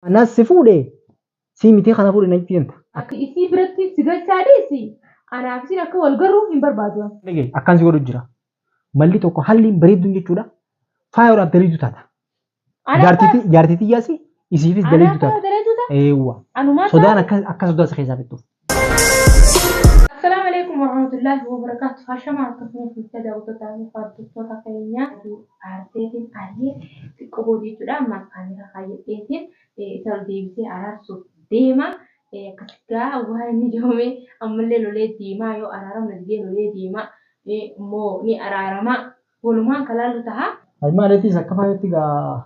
Anas si fuudhe sii mitii kana fuudhe na jibbisan ta. Ati isii biratti si galchaa dhiisi anaaf isiin akka wal garru hin barbaadu an. Dhagahi akkan si godhu jira. Malli tokko halliin bareedduun jechuudha faayoodhaaf daleedu taata. Anaaf Jaartiitii jaartiitii yaasi isiifis Anaaf daleedu taata. daleedu taata? Eewwa. Anumaa Sodaan taate? akka akka sodaa si keessaa fixxuuf. Assalamu alaikum warahmatullahi wabarakatuh. Hashama akka furii fuucha daawwattoota fi hordoftoota keenyaa aarteetiin ari'ee xiqqoo boodii jechuudha. Amma kaamera kaayyadheetiin isa ol deebisee araarsuuf deema. Akkasitti gaa waan inni jedhamee ammallee lolee deemaa yoo araaramu didee lolee deemaa immoo ni araarama. Walumaan kalaallu taha. Almaaleetiis akka faayatti gaa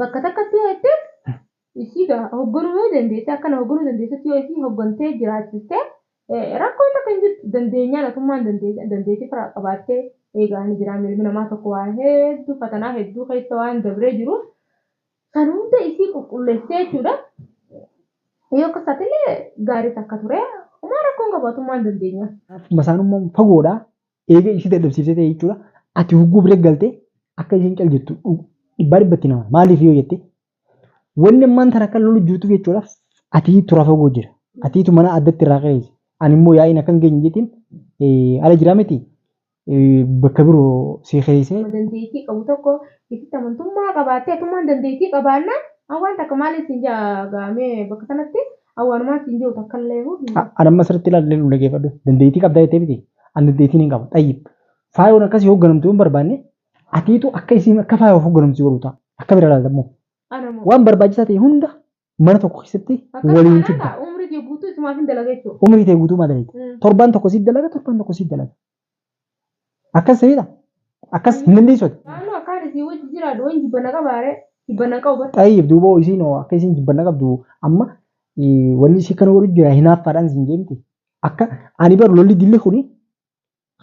Bakka takkatti yoo jetteef isii ga hogganuu yoo dandeessee akkana hogganuu dandeessutti yoo isii hoggantee jiraachistee rakkoon takka hin jirtu dandeenyaan otummaan dandeetii firaa qabaattee eegaa ni jiraa milmi namaa tokko waa hedduu fatanaa hedduu keessa waan dabree jiruuf san hunda isii qulqulleessee jechuudha yoo akka isaatiillee gaarii takka ture umaa rakkoon qabaatummaan dandeenyaa. Masaanummaan fagoodha Eega ishii dadhabsiisee ta'e jechuudha. Ati hogguu bira galtee akka isheen cal jettu dhibbaa dhibbatti nama. Maaliif yoo jette wanni ammaan tana akka lolu jirtuuf jechuudha. Ati tura fagoo jira. Atiitu mana addatti irraa qe'eessi. Ani immoo yaa'iin akka hin geenye jetiin ala jiraa miti bakka biroo si qe'eessee. Dandeettii qabu tokko itti amantummaa qabaattee atummaan dandeettii qabaannaan an waan takka maaliin siin jaa gaamee bakka sanatti Awwaanumaan siin jiru takka illee hoo hin jiru. Anamma sirritti ilaalee nu dhageeffadhu. Dandeettii qabdaa jettee miti. Ani dandeettiin hin qabu. Xayyib. Faayoon akkasii hoogganamtu yoo hin barbaanne atiitu akka isiin akka faayoof hoogganamtu godhu ta'a. Akka bira ilaalta immoo. Ana moo. Waan barbaachisaa ta'e hunda mana tokko keessatti Akkas waliin taanaan fidda. ta'a umrii kee guutuu isumaafin dalaga jechuudha. Umrii tee guutuu maa dalayda? Mm. Torbaan tokko siif dalaga, torbaan tokko siif dalaga. Akkas ta'edha. Akkas hin dandeessu ati. Maaloo akkaan isii wajji jiraadhu waan jibbana qabaare jibbana qabu bar. Xayyib duuba hoo isiin hoo akka isiin jibbanna qabdu amma eh, wanni isii kana godhu jira hinaaffaadhaan siin jeemti. Akka ani bar lolli dilli kuni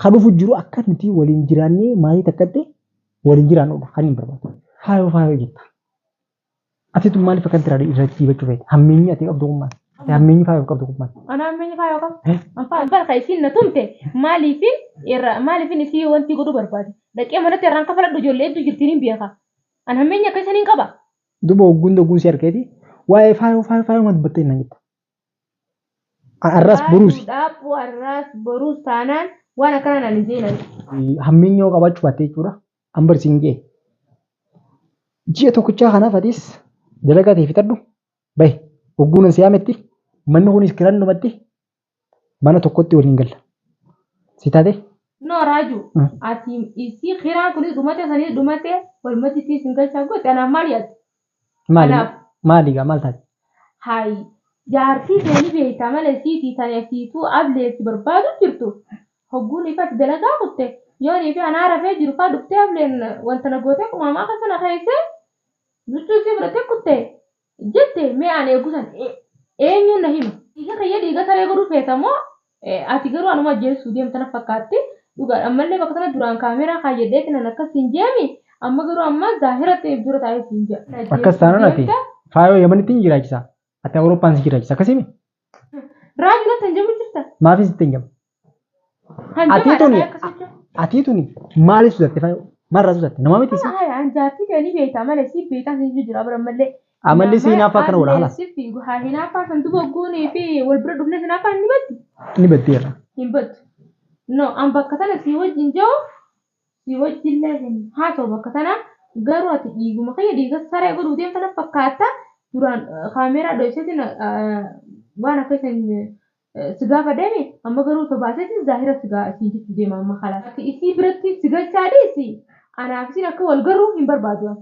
ka dhufu jiru akka nuti waliin jiraannee maatii takkatti waliin jiraannudha kan hin barbaadu. Faayoo faayoo jetta. Ati tun maaliif akkanatti irraa irratti diibachuu feete? Hammeenyi ati qabdu kun maali? Ati hammeenyi faayoof qabdu kun maali? Ana hammeenyi faayoo qaba. Eh? Abbaa barka isiin na tumte maaliifin irra maaliifin isii wanti godhuu barbaade. Dhaqee manatti irraan kafaladhu ijoollee hedduu jirtiin hin beeka. An hammeenyi akka isaniin qaba. Duba ogguun dogguun si argeeti waa'ee faayoo faayoo faayoo ma dubbattee naan jetta. An arraas boruusi. Dhaaphuu arraas boruus taanaan waan akkanaa naan hin jeenan. Hammeenyi yoo qabaachuu baatte jechuudha. an barsiin jee ji'a tokkichaa kanaaf atis dalagaa ta'e fixadhu bahe hogguunan si yaametti manni kunis kiran dhumatti mana tokkotti waliin galla si taate No Raaju, Mm. ati isii kiraan kunis dhumate sanis dhumate walumatti ittiin sin galchaa goote anaan maal yaadde? Maali Kanaaf- maali gaa maal taate? Hayi jaartii tee ni beeyta mala isiitii tani asiituu ablee si barbaadu jirtu hogguun ifatti dalagaa kutte yoonii fi anaa rafee jiru faa dhuftee ableen wanta na gootee qumaamaa keessa na keeysee luchuu isii fudhatee kutte jette mee an eegu san e- eenyuun na hima dhiiga kiyya dhiiga saree godhuu feeta moo Ati garuu anuma ajjeessuuf deemta na fakkaatti. Dhugaadha ammallee bakka sana duraan kaameeraa kaayyadheeti nan akkas siin jeemi amma garuu amma zaahiratti if dura taa'ee siin jaa. Akkas taanaan ati faayoo yamanitti hin jiraachisa. Ati Awurooppaan si jiraachisa akkasimi. Raaju natti hin jamu jirta. Maafii sitti hin jamu. Kan Atii jamaadha tuni faaya akkas jechuun. atii tuni maaliif sudatte faayoo? Maalirraa sudatte? Namaa miti si. Haya an jaartii ta'e ni beektaa malee si beekaa siin jijjiiraa bara ammallee. Amalli si hinaaffaa akkana godha halas. Siif fiigu haa hinaaffaa kan duba goonee fi wal bira dhufne hinaaffaa ni batti. Ni batteera. Hin battu. No, an bakka tana sii wajjin jiru sii wajjillee hin haasa'u bakka tana garuu ati dhiiguma kiyya dhiiga saree godhuu deemta na fakkaatta duraan eh, kaameeraa dho'iseetiin eh, waan akka isin eh, si gaafa deeme amma garuu osoo baaseetiin zaahira si gaa- siin jechuu deema amma kalaas. Ati isii biratti si galchaa dhiisi anaaf isiin akka wal garuu hin barbaadu. ani.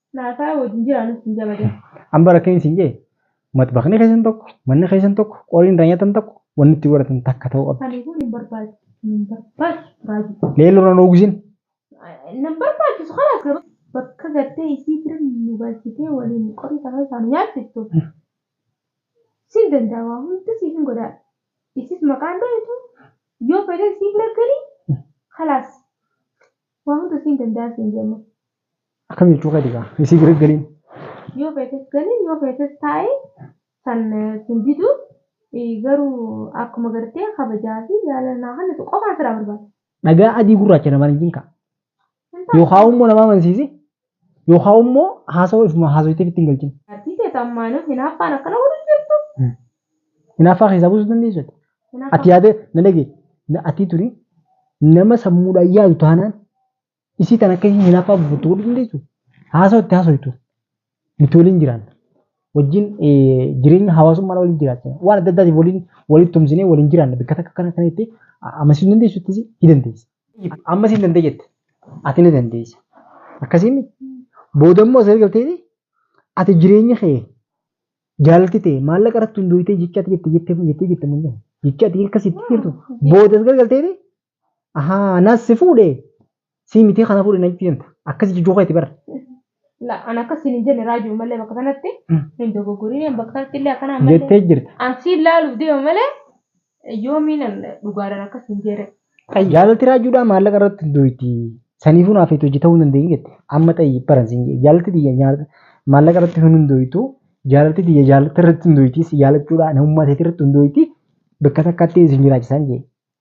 Naasaa wajjin jira nutti hin jabadan. An bara akkamiin siin jee maxbaqni keessan tokko manni keessan tokko qoriin irraa nyaatan tokko wanni itti godhatan takka ta'uu qabdi. Ani kun hin barbaachisu hin barbaachisu raajii. Leelloo irraa noogusin. Nan barbaachisu kanaas garuu bakka gartee isii bira nu galchitee waliin qorii tafa isaan nyaachiftu. Siin danda'a waa hunda siif hin godhaa. Isis maqaan dhohitu yoo fedhe sii bira galii kalaas waa hunda siin danda'a siin jee amma. Akkam jechuu keeti gaa isii bira galiin. Yoo feetes gali yoo feetes taa'i san sin didu garuu akkuma gartee kabajaa fi jaalala naa kennitu qofaan siraa barbaada. Dhagaa adii gurraacha namaan hin jinkaa. Hin taatu. Yookaan immoo nama amansiisi yookaan immoo haasawaa ifuma haasawitee ittiin galchin. Artii ta'e ammaanuu hinaaffaan akkana godhu jirtu. Hinaaffaa keessaa buusuu dandeessu ati. Hinaaffaa- Ati yaadee na dhagee na atii turi nama sammuudhaan yaadu taanaan Isii tan akka isii hinafaa buufuttu godhuu dandeessu haasawa itti haasoytu nuti waliin jiraanna. Wajjin jireenya hawaasummaa waliin jiraachina. Waan adda addaatiif waliin walitti tumsinee waliin jiraanna. Bakka takka kana kana jettee amansiisuu hin dandeessu itti ni dandeessa. Amma isin dandee jette ati ni dandeessa. Akkasiin booda immoo asirra galtee ati jireenya kee jaalalti ta'e maallaqa irratti hundooytee jecha ati jette jette jettee jette mul'ata. Jecha ati akkasitti jirtu booda asirra galtee Ahaa, anas si fuudhe. Si miti kana fuudhe natti himta. Akkas jijuu keeti bar. La an akkas hin jenne raajuu malee bakka sanatti hin dogoggorin bakka sanatti illee akkana malee. Jettee jirta. An si ilaaluuf deema malee yoomiin an dhugaadhaan akkas hin jenne. Jaalalti raajuudhaa maallaqa irratti hin duuti. Saniifuu naaf itti hojjetahuu hin dandeenye jette. Amma xayyi baran siin jedhe. Jaalalti tiyya nyaata maallaqa irratti hin hundooytu. Jaalalti tiyya jaalalti irratti hin duuti. Si jaalachuudhaa namummaa teetii irratti hin duuti. Bakka takkaatti isin jiraachisaan jedhe.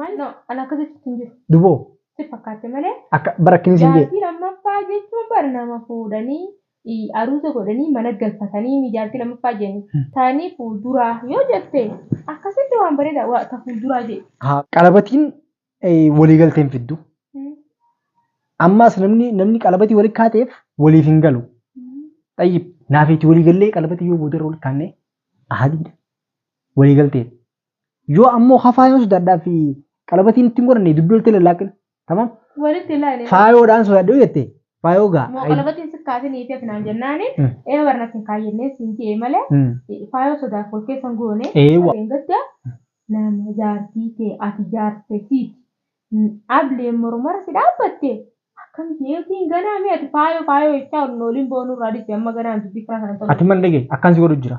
Maal no, an akka jechuutti hin jiru. Duboo. Si fakkaatte malee. Akka bara akkinis hin jee. Jaartii lammaffaa jechuun bar nama fuudhanii i, aruuza godhanii mana galfatanii mi jaartii lammaffaa jennu. Tani fuulduraa yoo jette akkasitti waan bareeda wa, ta fuulduraa jedhi. Haa qalabatiin eh, waliigalteen fiddu. Ammaas namni namni qalabatii wali kaateef waliif hin galu. Xayyib naaf itti waliigallee qalabatii yoo boodarra wali kaannee ahadiidha. Waliigalteen. yoo ammoo ka faayoon sodaadhaa fi qalabatiin ittiin godhanne dugda oltee lallaaqin tamam Walitti ilaali. faayoodhaan sodaadhe yoo jette faayoo gaa Moo qalabatiin si kaasee niitii ati naan jennaani. Mm. Ee warra natti hin kaayyanneen siin je'e malee. Mm. Faayoo sodaaf wal keessan goone. Ee wa- Ableen gadda nama jaartii tee ati jaarte siiti. N- Ableen mormara si dhaabbatte. Akkam jeetiin ganaa mee ati faayoo faayoo jechaa ol nooliin boonuu irraa dhiste amma ganaan dubbii kiraa sana ati man dhagee akkan si godhu jira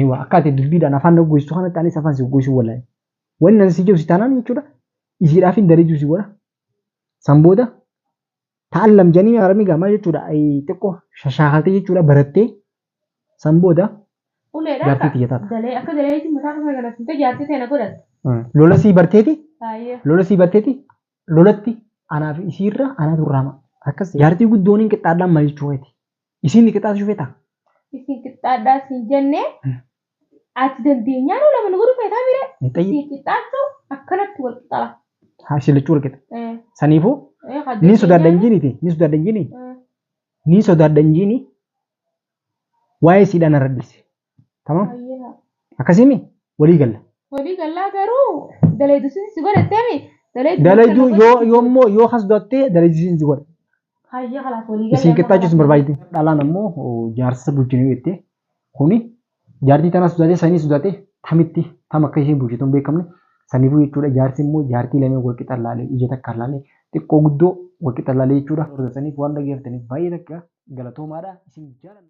Ewa akka ati dubbiidhaan afaan na goystu kanatti anis afaan si goysuu wallahi. Wanni nan si jedhu si taanaan jechuudha isiidhaaf hin darejuu si godha. San booda ta'allam janii arabni gaamaa jechuudha xiqqoo shashaakaltee jechuudha barattee san booda Uleedha Jaartii akka tiyya taata. dalee akka daleetiin mataa kana galattee jaartii ta'e na godhatte. lola sii barteeti Baay'ee. lola sii barteeti lolatti anaaf isiirra anatu raama. Akkas jaartii guddooniin qixxaadhaan maal jechuu keeti. Isiin ni qixxaatu shufetaa? Isin qixxaadhaa siin jenne ati dandeenyaa nuu lama nu godhu feetaa mire Ni xayyi. siin qixxaachuu akkanatti wal qixala. Haa isin lachuu wal qixa. Eh, Saniifuu eh, kan ni sodaadha dandeenyaa- injiiniiti. Ni sodaadha injiinii. Eh, Ni sodaadha injiinii. Waa'ee siidhaan irra dhiise. Tamam? Hayyee haa. Akkasiimi walii galla. Walii gallaa garuu dalaydu sin si godhatteemi dalaydu Dalayduu yoo yoo immoo yoo kas dottee dalaydu sin si godha. Hayyee kalaas walii galla. Isin qixxaachuus hin barbaadne. Dhalaan ammoo oh, jaarsa bulchinuu jettee kuni jaartii tana sodaatee sanii sodaatee tamitti tam akka isheen bulchitu hin beekamne saniifuu jechuudha jaarsi immoo jaartii lamee wal qixa laalee ija takka laalee xiqqoo guddoo wal qixa laalee jechuudha. Saniif waan dhageeffataniif baay'ee takka galatoomaadha isin jaalanna.